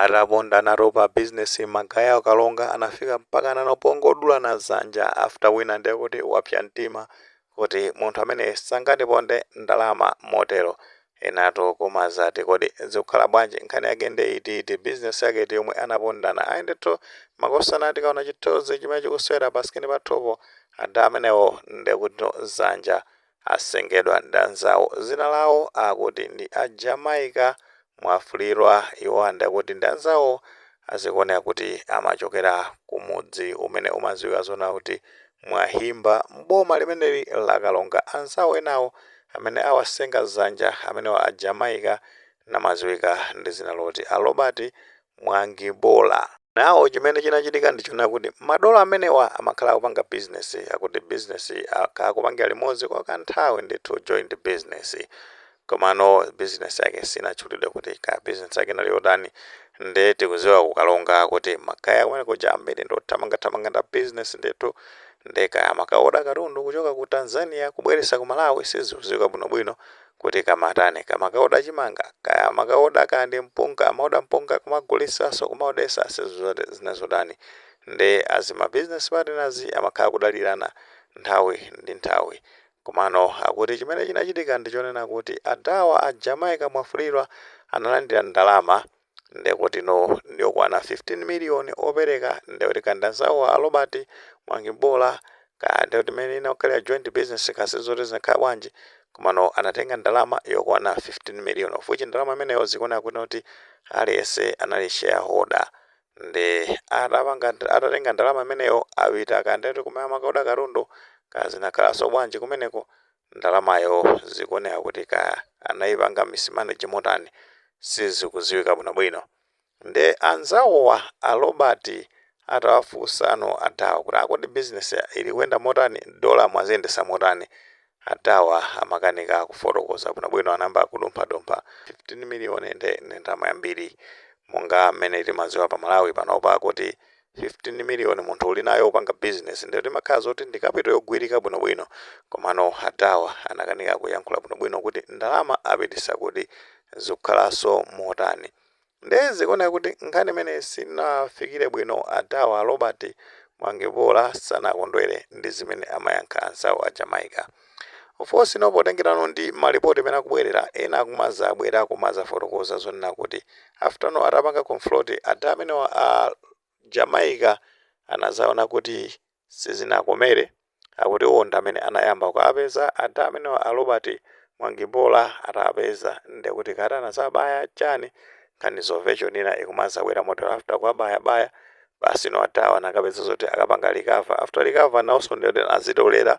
Atapondanatu pa business ma guy a Karonga anafika mpaka nano pongodulana zanja after wina ndiye kuti wapsa mtima kuti munthu amene sangandiponde ndalama motero enatu kumazati kodi zikukhala bwanji nkhani yake nde iti iti business yake iti yomwe anapondana ayi ndithu makosana tikaona chithunzi chimene chikusewera pa screen pathupo ada amenewo nde kuti zanja asengedwa ndi anzawo zina lawo akuti ndi a Jamaica Mwafulirwa iwo and akuti ndi anzawo zikuoneka kuti amachokera ku mudzi umene umadziwika zona kuti Mwahimba m'boma limeneli la Karonga anzawo enawo amene awasenga dzanja amenewa a Jamaica namadziwika ndi dzina loti a Robert Mwangibola. Now chimene chinachitika ndi choona kuti madolo amenewa amakhala akupanga business akuti business yi akhala akupangira limodzi kwa kanthawi ndithu joint business. Komano business yake sinatchulidwe kuti kaya business yake inali yotani nde tikuziwa ku Karonga kuti ma guy akumene kuja ambiri ndi othamanga thamanga nda business ndithu nde kaya amakawoda katundu kuchoka ku Tanzania kubweresa ku Malawi siziuziwika bwino bwino kuti kaya amatani kaya amakaoda chimanga kaya amakaoda kaya ndi mpunga amaoda mpunga kumagulisaso kumaodesa sizoti zinazotani nde as ma business partners amakhala kudalirana nthawi ndi nthawi komano akuti chimene chinachitika ndichonena kuti adhawa a Jamaica Mwafulirwa analandira ndalama Ndekutino ndiokwana 15 million opereka ndekuti kaya ndanzawo a Robert Mwangibola kaya ndekuti mmene inakhalira joint business kaya sizoti zinakhala bwanji komano anatenga ndalama yokwana 15 million of which ndalama imeneyo zikuoneka kutinoti aliyense anali shareholder nde atatenga ndalama imeneyo apita kaya ndekuti kumene amakaoda katundu kaya zinakhalaso bwanji kumeneko ndalamayo zikuoneka kuti kaya anaipanga mismanage motani sizikuziwika bwino bwino nde anzawowa a Robert atawafunsano adhawa kuti akodi business ilikuyenda motani dollar mwaziyendesa motani adhawa amakanika kufotokoza bwino bwino anayamba kudumpha dumpha 15 million nde ndi ndalama yambiri monga mmene timaziwa pa Malawi panopa kuti 15 million munthu ulinayo upanga business nde timakhala zoti ndi capital yogwirika bwino bwino komano adhawa anakanika kuyankhula bwino bwino kuti ndalama apitisa kuti zikukhalaso motani nde zikuoneka kuti nkhani imeneyi sinawafikile bwino adhawa Robert Mwangibola sanakondwele ndi zimene amayankha anzawo a Jamaica Of course no potengerano ndi ma report amene akubwerera ena akumazabwera kumazafotokoza zonena kuti after no atapanga confront ada amenewa a Jamaica anazaona kuti sizinakomere akuti iwo ndi amene anayamba kuapeza ada amenewa a Robert Mwangibola atapeza ndekuti kati anazawabaya chani nkhani za version ina ikumazabwera motero after kuabaya baya basi no adawa anakapeza zoti akapanga recover after recover nawonso ndekuti anazitolera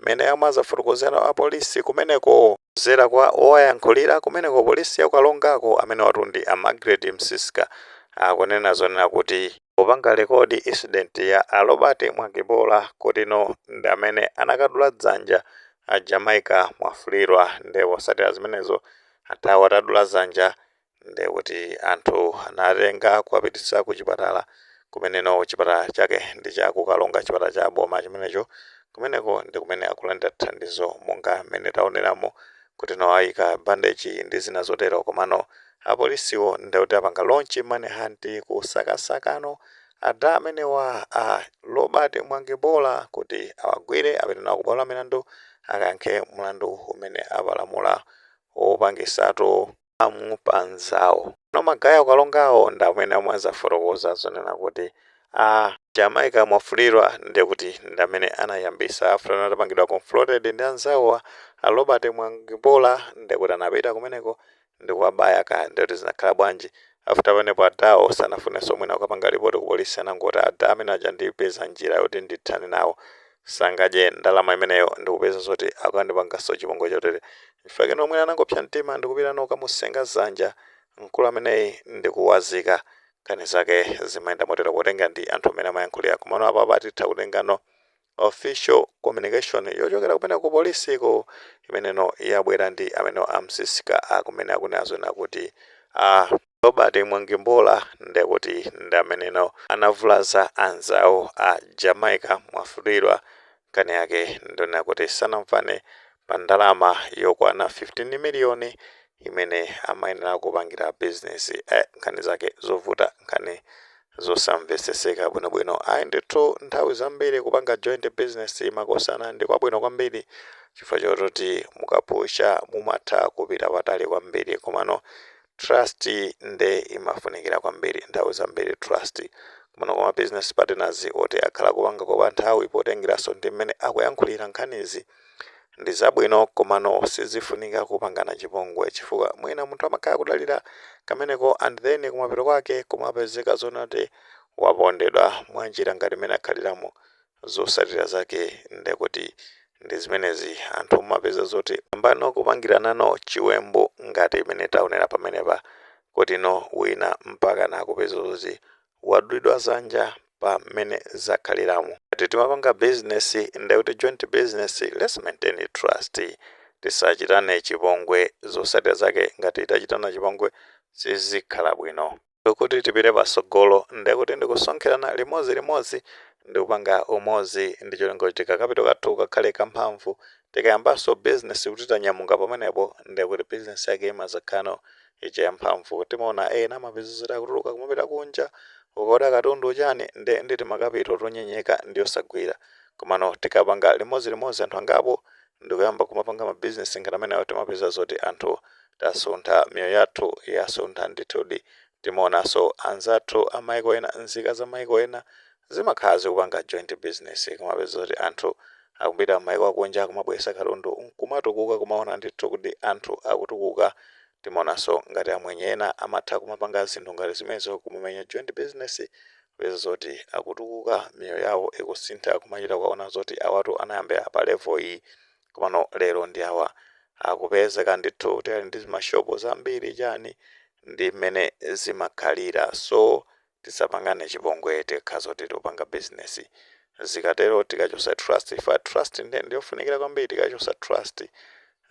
mmene amazafotokozera a police kumeneko. Kudzera kwa owayankhulira kumeneko police ya ku Karonga ko amenewatu ndi a Magret Msiska akunena zonena kuti popanga record incident ya a Robert Mwangibola kuti no ndi amene anakadula dzanja a Jamaica Mwafulirwa nde kutsatira zimenezo athawa atadula dzanja ndiye kuti anthu anatenga kuwapititsa ku chipatala kumeneno chipatala chake ndi cha ku Karonga chipatala cha boma chimenecho kumeneko ndi kumene akulandira thandizo monga mmene taoneramo kuti no ayika bandeji ndi zina zotero komano apolisiwo ndiye kuti apanga launch manhunt kusakasakano ada amenewa a Robert Mwangibola kuti awagwire apite nawo ku bwalo la milandu akayankhe mlandu umene apalamula wopangisatu harm pa anzawo. No magaya a ku Karongawo ndi amene amazafotokoza zonena kuti a Jamaica Mwafulirwa ndiye kuti ndi amene anayambisa after atapangidwa confronted ndi anzawowa a Robert Mwangibola ndiye kuti anapita kumeneko ndi kuwabaya kaya ndiye kuti zinakhala bwanji. After pamenepo adawo sanafunenso mwina kukapanga report ku police anangoti ada amene aja ndipeza njira yoti ndithane nawo. sangadye ndalama imeneyo ndikupeza zoti akandipangaso chipongwe chotere chifukwa chake no mwina anangopsa mtima ndikupita no kukamusenga dzanja mkulu ameneyi ndikuwazika nkhani zake zimayenda motero potenga ndi anthu mene amayankhulira komano apapa titha kutengano official communication yochokera kumene ku police ko imeneno yabwera ndi amene a Msiska kumene akunena zonakuti a Robert Mwangibola ndekuti ndi ameneno anavulaza anzawo a Jamaica Mwafulirwa nkhani yake ndonena kuti sanamvane pa ndalama yokwana 15 million imene amayenera kupangira business eh nkhani zake zovuta nkhani zosamveseseka bwino bwino ayi ndithu nthawi zambiri kupanga joint business makosana ndi kwabwino kwambiri chifukwa choti mukapusha mumatha kupita patali kwambiri komano Trust nde imafunikira kwambiri. Nthawi zambiri trust komano kwa ma business partners oti akhala akupanga kwa nthawi potengeraso ndi mmene akuyankhulira nkhanizi ndi zabwino komano sizifunika kupangana chipongwe chifukwa mwina munthu amakhala kudalira kameneko and then kumapeto kwake kumapezeka zonati wapondedwa mwanjira ngati mmene akhaliramu Zosatira zake nde kuti ndi zimenezi anthu mumapeza zoti ayambano kupangiranano chiwembu ngati mmene taonera pamenepa kuti no wina mpakana kupeza zoti wadulidwa dzanja pa mmene zakhaliramo. Ngati timapanga business nde kuti joint business let's maintain trust tisachitane chipongwe zosatira zake ngati tachitana chipongwe sizikhala bwino. kuti tipite patsogolo ndekuti ndikusonkherana limodzi limodzi ndikupanga umodzi ndi cholinga choti kakapito kathu kakhale kamphamvu tikayambanso business kuti tanyamuka pamenepo ndekuti business yake imazakhala ija yamphamvu timaona ena umapeza zoti akutuluka kumapita kunja kukaoda katundu chani nde si timakapito tonyenyeka ndi osagwira komano tikapanga limodzi limodzi anthu angapo ndikuyamba kumapanga ma business ngati amenewo timapeza zoti anthu tasuntha miyoyo yathu yasuntha ndithudi timaonanso anzathu amaiko ena nzika za maiko ena zimakhala zikupanga joint business kumapeza zoti anthu akupita mmaiko akunja kumabweresa katundu kumatukuka kumaona ndithu kuti anthu akutukuka timaonanso ngati amwenye ena amatha kumapanga zinthu ngati zimenezo kumamenya joint business kupeza zoti akutukuka miyoyo yawo ikusintha kumachita kuwaona zoti awatu anayambira pa level iyi komano lero ndi awa akupezeka ndithu kuti ali ndi mashopu zambiri chani ndi mmene zimakhalira so tisapangane chipongwe tikakhala zoti tikupanga business zikatero tikachosa trust chifukwa trust ndiyofunikira kwambiri tikachosa trust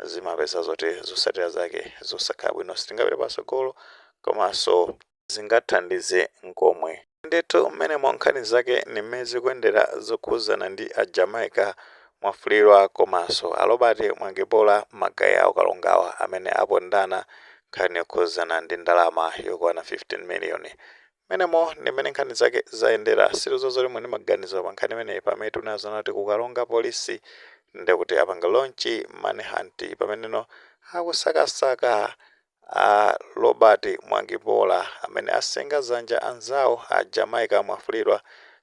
zimapeza zoti zosatira zake zosakhala bwino sitingapite pasogolo komanso sizingathandize n'komwe. Ndithu mmenemo nkhani zake ndi mmene zikuyendera zokhudzana ndi a Jamaica Mwafulirwa komanso a Robert Mwangibola magaye a ku Karongawa amene apondana nkhani yokhudzana ndi ndalama yokwana 15 miliyoni. Mmenemo ndi mmene nkhani zake zayendera. Sitidziwa zoti muli ndi maganizo anji pa nkhani imeneyi pamene tikuziona kuti ku Karonga Police ndekuti apanga launch manhunt pameneno akusakasaka A Robert Mwangibola amene asenga dzanja la anzawo a Jamaica Mwafulirwa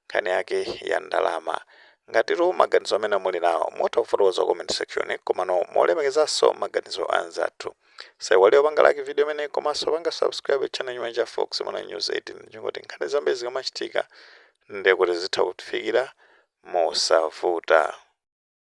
nkhani yake ya ndalama. Ngatitu maganizo amene muli nawo, mutha kufotokoza ku comment section komano molemekezanso maganizo a anzathu. Musaiwale kupanga like video imeneyi komanso kupanga subscribe channel chimenechi cha Fox Malawi News 18 ndi cholinga choti nkhani zambiri zikamachitika ndekuti zitha kukufikirani mosavuta.